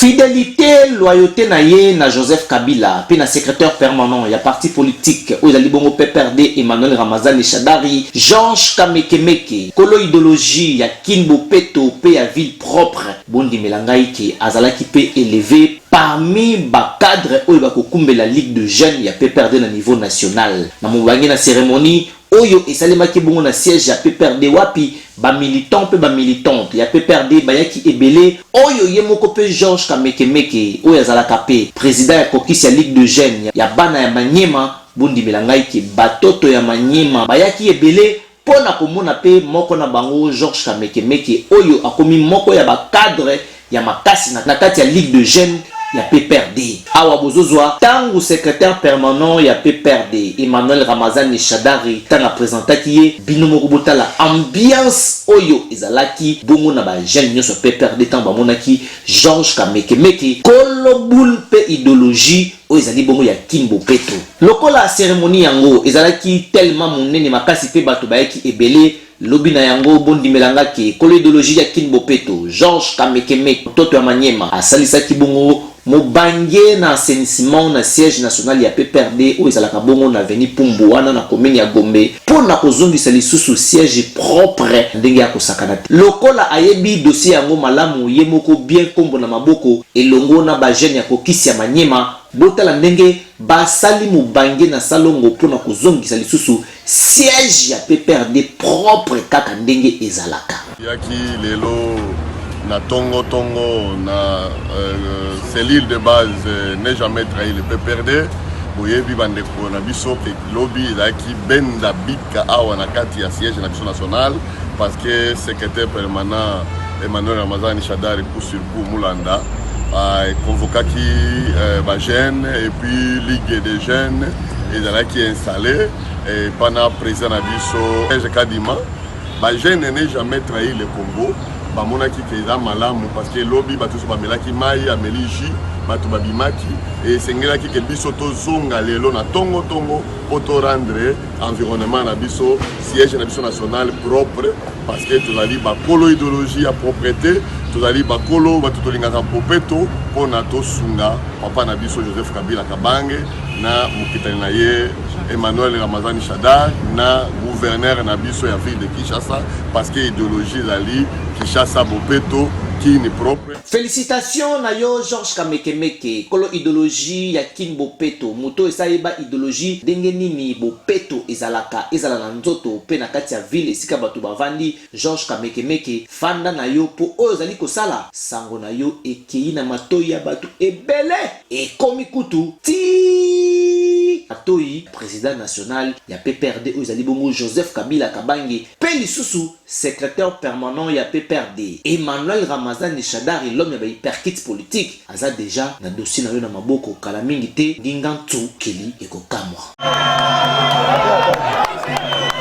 Fidelite, loyauté na ye na Joseph Kabila mpe na secrétaire permanent ya parti politique oyo ezali bongo PPRD Emmanuel Ramazani Shadary, Georges Kamekemeke, kolo ideologie ya kin bopeto mpe ya ville propre, bondimela ngai ke azalaki mpe eleve parmi ba cadres oyo bakokumbela Ligue de jeunes ya PPRD na niveau national. Na mobange na ceremonie, Oyo esalemaki bongo na siège ya pprd wapi ba militants mpe ba militantes ya pprd bayaki ebele, oyo ye moko mpe Georges Kamekemeke oyo azalaka mpe president ya caucus ya Ligue de jeunes ya bana ya Maniema, bondimela ngai que batoto ya Maniema bayaki ebele mpo na komona mpe moko na bango Georges Kamekemeke oyo akomi moko ya ba cadres ya makasi na kati ya Ligue de jeunes ya pprd. Awa bozo zwa tangu secretaire permanent ya pprd Emmanuel Ramazani Shadary tangu a presentaki ye, bino moko bo tala ambiance oyo ezalaki bongo na ba jeunes nionso ya pprd tangu ba monaki Georges Kamekemeke, kolo boule mpe ideologie oyo ezali bongo ya Kin Bopeto. Lokola ceremonie yango ezalaki tellement munene makasi mpe batu bayaki ebele, Lobi na yango bondimela nga ke kolo ideologie ya kin bopeto Georges Kamekemeke Ntoto ya Maniema asalisaki bongo mobange na assainissement na siège national ya pprd oyo ezalaka bongo na avenue Pumbu wana na commune ya Gombe mpo na kozongisa lisusu siège propre ndenge ya kosakana te. Lokola ayebi dossier yango malamu ye moko bien nkombo na maboko elongo na ba jeunes ya caucus ya Maniema, botala ndenge basali mobange na salongo mpo na kozongisa lisusu Siège ya PPRD propre kaka ndenge ezalaka. Yaki lelo na tongo tongo na cellule de base n'ai jamais trahi le PPRD boyebi ba ndeko na biso que lobi ezalaki benda bika awa na kati ya siège na biso national parce que secretaire permanent Emmanuel Ramazani Shadary. Pour Mulanda, euh, convocaki euh, ba jeunes et puis ligue des jeunes ezalaki installé et pana président na biso Serge Kadima ba jeunes ne jamais trahi le Congo bamonaki ke eza malamu parce que lobi bato nyonso bamelaki mai ameli jus bato babimaki esengelaki ke biso tozonga lelo na tongo tongo mpo to rendre environnement na biso siège na biso national propre parce que tozali bakolo idéologie ya propreté tozali bakolo bato tolingaka bopeto mpo na tosunga papa na biso joseph kabila kabange na mokitani na ye emmanuel ramazani shadar na gouverneur na biso ya ville de kinshasa parce que idéologie ezali kinshasa bopeto kini propre Felicitations na yo Georges Kamekemeke kolo idologie ya kin bopeto moto oyo esa yeba idologie ndenge nini bopeto ezalaka ezala na nzoto pe na kati ya ville esika bato bavandi Georges Kamekemeke fanda na yo po oyo ozali kosala sango na yo ekeyi na matoyi ya bato ebele ekomi kutu tii matoyi ya president national ya PPRD oyo ezali bongo Joseph Kabila Kabange pe lisusu Secretaire permanent ya PPRD, Emmanuel Ramazani Shadary l'homme ya ba hyperkits politiques aza dejà na dossier na yo na maboko kala mingi te, Ngingantsukili ekokamwa.